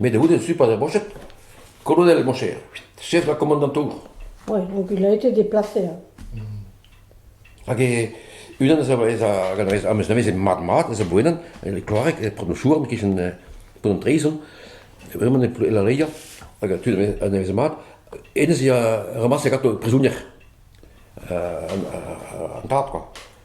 Met a-oude su paotr Broched, kolonel mon cher, chef ha komandantour. Oui, donc il a été déplacé. hein. Hag e- unan eus a- eus a- hag an- am eus nevez mat-mat, eus a boenan, e Kloareg, e Port Mouchouarn, kichen eh, Pont an Treizon, vraiment e Plou- e La Leia, hag a tud a nevez- a nevez mat. Hennezh a ramasse gato prizonier, euh, an, an- an tad, quoi.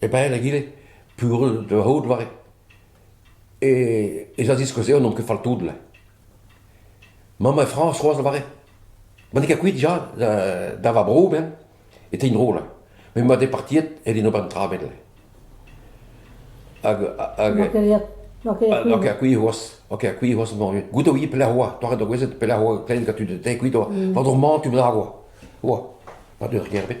e-pad egile peogwir da c'hoût war e ez a ziskouez eo n'omp ket fall tout le. Mamm e Frañs c'hoazh a lavarit ma n'eo ket kuit ja da, da va bro ben e tegn dro le. Met ma departiet e din ober un tra bet le. Hag... hag N'oa ket ha ket kuit c'hoazh, n'oa ket kuit c'hoazh moruet. Goude oa pelec'h oa, toa da gouezet pelec'h oa klein gant tu de te kuit oa. Va dro man tu bennak oa. Oa, pa deu ur gêr bet.